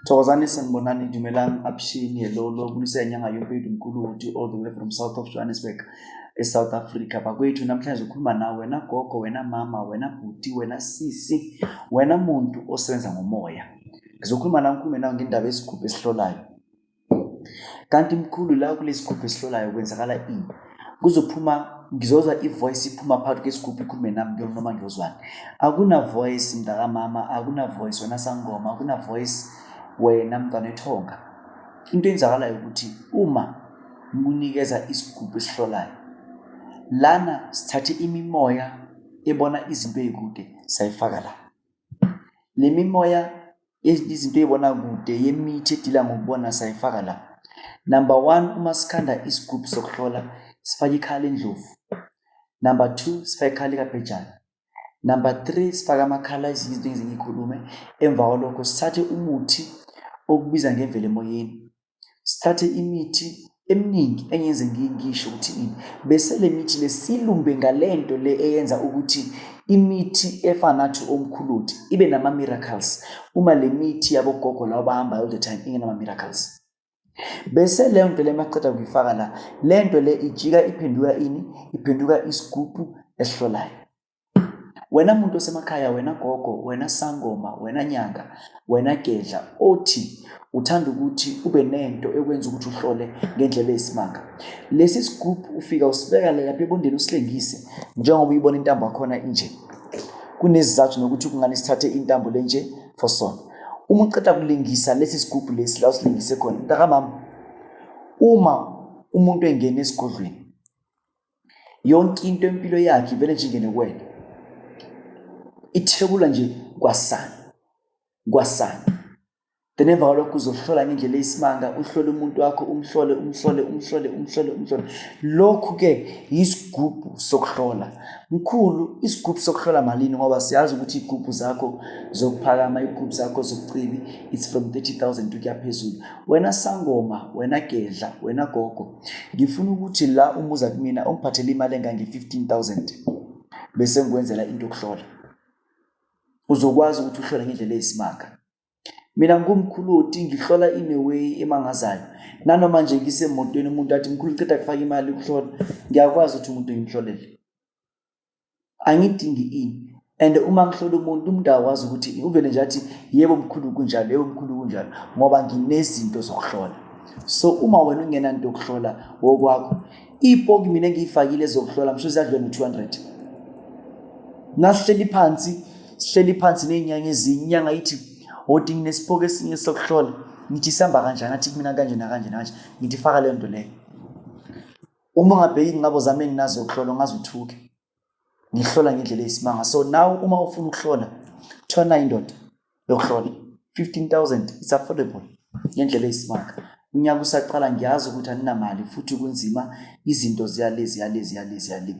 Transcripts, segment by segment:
Thokozani sanibonani dumelang abshini hello lo kulisa inyanga yompedu mkhulu uthi all the way from south of johannesburg e-south africa bakwethu namhlanje ukhuluma nawe wena gogo wena mama wena bhuti wena sisi wena muntu osebenza ngomoya ngizokhuluma nawe ngikhulume nawe ngendaba yesigubhu esihlolayo kanti mkhulu la kulesigubhu esihlolayo kwenzakala ini kuzophuma ngizozwa ivoice iphuma phakathi kwesigubhu ikhulume nami ngiyona noma ngiyozwani akuna voice mntakamama akuna voice wena sangoma akuna voice wena mntwana ethonga into enzakalayo ukuthi uma munikeza isigubhu esihlolayo lana sithathe imimoya ebona izinto ezikude sayifaka la le mimoya ezinye izinto ey'bona kude yemithi edila ngokubona sayifaka la number one uma sikhanda isigubhu sokuhlola sifake ikhala endlovu number two sifake ikhala ikabhejana number three sifake amakhala ezinye izinto engize ngiyikhulume emva kwalokho sithathe umuthi okubiza ngemvelo emoyeni sithathe imithi eminingi engenze ngisho ukuthi ini bese le mithi le silumbe ngale nto le eyenza ukuthi imithi efana nathi omkhuluthi ibe nama-miracles uma le mithi yabogogo lawo bahamba all the time ingenama-miracles bese leyo nto le maqeda kuyifaka la le nto le ijika iphenduka ini iphenduka isigubhu esihlolayo Wena muntu osemakhaya, wena gogo, wena sangoma, wena nyanga, wena gedla othi uthanda ukuthi ube nento ekwenza ukuthi uhlole ngendlela eyisimanga. Lesi sigubhu ufika usibeka lapha ebondeni usilengise njengoba uyibona intambo yakhona inje. Kunezizathu nokuthi kungani sithathe intambo lenje for sona. Uma uqeda kulingisa lesi sigubhu lesi la usilingise khona, mntakamama, uma umuntu engena esigodlweni yonke into empilo yakhe ivele nje ingene kuwena ithebula nje kwasani kwasani then emva kwalokho uzohlola ngendlela eyisimanga uhlole umuntu wakho umhlole umhlole umhlole umhlole umhlole lokhu-ke yisigubhu sokuhlola mkhulu isigubhu sokuhlola malini ngoba siyazi ukuthi iy'gubhu zakho zokuphakama iy'gubhu zakho zokucibi it's from 30 000 ukuya phezulu wena sangoma wena gedla wena gogo ngifuna ukuthi la umuza kumina ungiphathele imali engange-15000 bese ngikwenzela into yokuhlola uzokwazi ukuthi uhlole ngendlela eyisimanga mina ngumkhuloti ngihlola in a way emangazayo nanoma nje ngisemotweni umuntu athi mkhulu ceda kufaka imali ukuhlola ngiyakwazi ukuthi umuntu ngimhlolele angidingi ini and uma ngihlola umuntu umuntu akwazi ukuthi uvele nje athi yebo mkhulu kunjalo yebo mkhulu kunjalo ngoba nginezinto zokuhlola so uma wena ungenanto yokuhlola wokwakho ipoki mina engiyifakile zokuhlola msho ziyadlula no-200 nasihleli phansi sihleli phansi ney'nyanga ezinye inyanga ithi odi nginesipoki esinye sokuhlola ngithi sihamba kanjani athi kumina kanje nakanje nakanje ngithi faka leyo nto leyo uma ungabheki inqabo zami enginazo ukuhlola ngaze uthuke ngihlola ngendlela eyisimanga so now uma ufuna ukuhlola thola indoda yokuhlola 15000 it's affordable ngendlela eyisimanga unyaka usaqala ngiyazi ukuthi aninamali futhi kunzima izinto ziyale ziyale ziyale ziyale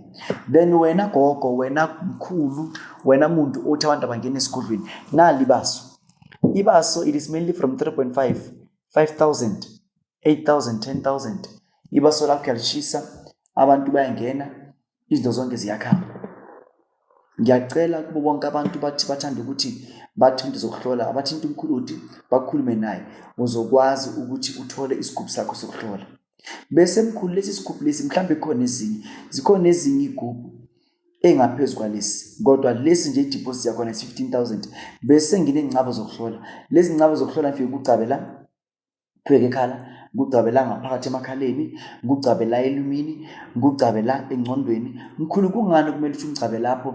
then wena gogo wena mkhulu wena muntu othi abantu abangena esigodlweni nali baso ibaso it is mainly from 3.5 5000 8000 10000 ibaso lakho yalishisa abantu bayangena izinto zonke ziyakhamba ngiyacela kubo bonke abantu bathi bathanda ukuthi bathi into zokuhlola abathinta umkhuludi bakhulume naye uzokwazi ukuthi uthole isigubhu sakho sokuhlola bese mkhulu lesi sigubhu lesi mhlawumbe khona ezinye zikhona ezinye igubhu engaphezu kwalesi kodwa lesi nje idiphosit yakhona is-15000 bese nginey'ngcabo zokuhlola lezi ngcabo zokuhlola ngifike kugcabe la Qhubeka ekhala, ngigcabe la ngaphakathi emakhaleni, ngigcabe la elumini, ngigcabe la engcondweni. Mkhulu kungani kumele ukuthi ngigcabe lapho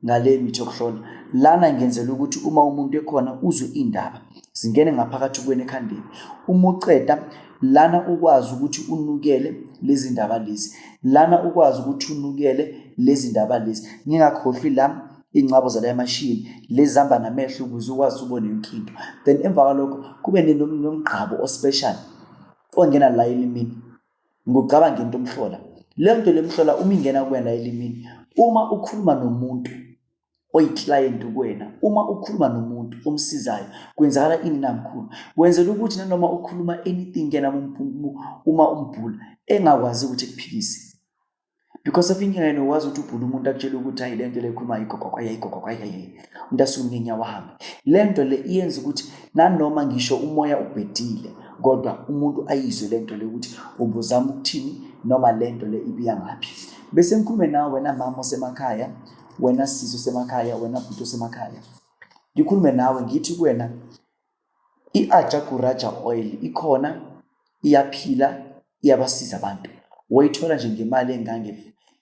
ngale mithi yokuhlola? Lana ngenzela ukuthi uma umuntu ekhona uzwe indaba. Zingene ngaphakathi kuwena ekhandeni. Uma uceda lana ukwazi ukuthi unukele lezi ndaba lezi. Lana ukwazi ukuthi unukele lezi ndaba lezi. Ngingakhohlwi la iy'ncabo zala emashini lezi zihamba namehlo ukuze ukwazi ubone yonke into then emva kwalokho kube nomgqabo ospecial ongena la elimini ngokucabanga into omhlola le nto le mhlola uma ingena kuwena elimini uma ukhuluma nomuntu oyiclient kuwena uma ukhuluma nomuntu omsizayo kwenzakala ini namkhulu wenzela ukuthi nanoma ukhuluma anything kena uma umbhula engakwazi ukuthi kuphikise because of indlela yena wazi ukuthi ubhula umuntu akutshela ukuthi hayi lento le khuluma igogogwa yayigogogwa yayi umuntu asuke ngenyawo ahambe lento le iyenza ukuthi nanoma ngisho umoya ubhedile kodwa umuntu ayizwe lento le ukuthi ubuzama ukuthini noma lento le ibiya ngaphi bese ngikhulume nawe wena mama osemakhaya wena sisi osemakhaya wena bhuti osemakhaya ngikhulume nawe ngithi kuwena I-Ajaguraja oil ikhona iyaphila iyabasiza abantu wayithola nje ngemali engange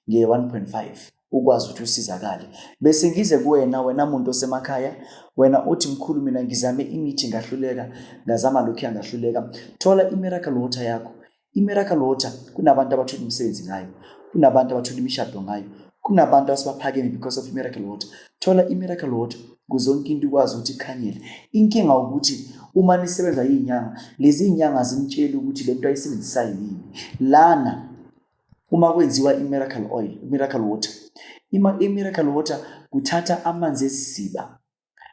nge-1.5 ukwazi ukuthi usizakale bese ngize kuwena wena muntu osemakhaya wena uthi mkhulu mina ngizame imithi ngahluleka ngazama lokhu yangahluleka thola i-miracle water yakho I-miracle water kunabantu abathola imisebenzi ngayo kunabantu abathola imishado ngayo kunabantu asibaphakeme because of miracle water thola i-miracle water kuze yonke into ikwazi ukuthi ikhanyele inkinga ukuthi uma nisebenza iy'nyanga lezi y'nyanga zimtsheli ukuthi le nto ayisebenzisayo yini lana uma kwenziwa i-miracle oil i-miracle water ima i-miracle water kuthatha amanzi esiziba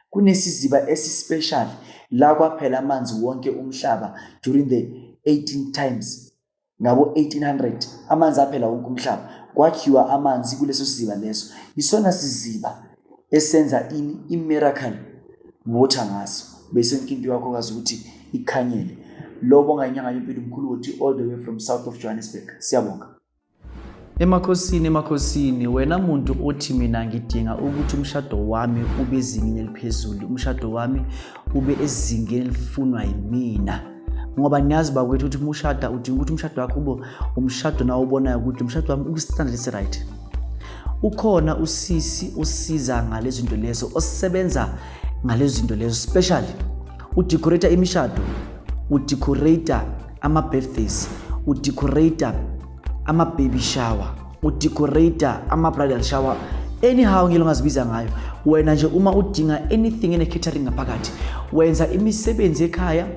Kunesiziba esispecial la kwaphela amanzi wonke umhlaba during the 18 times ngabo 1800 amanzi aphela wonke umhlaba kwakhiwa amanzi kuleso siziba leso isona siziba esenza ini imiracle water ngaso bese yonke into yakho kazi ukuthi ikhanyele lobo ngayinyanga yempilo mkhulu wothi all the way from south of johannesburg siyabonga Emakhosini emakhosini wena muntu othi mina ngidinga ukuthi umshado wami ube ezingeni eliphezulu umshado wami ube ezingeni elifunwa yimina ngoba niyazi bakwethu ukuthi umushada udinga ukuthi umshado wakho ube umshado nawo ubonayo ukuthi umshado wami ukustandard esi-right ukhona usisi osiza ngalezinto lezo osebenza ngalezinto lezo especially udecorate imishado udecorate ama-birthdays udecorate ama-baby shower udecorate ama-bridal shower anyhow ngilo ngazibiza ngayo wena nje uma udinga anything ene-catering ngaphakathi wenza imisebenzi ekhaya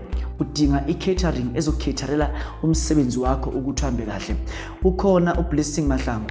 udinga i-catering ezokukhetharela umsebenzi wakho ukuthi uhambe kahle ukhona ublessing mahlangu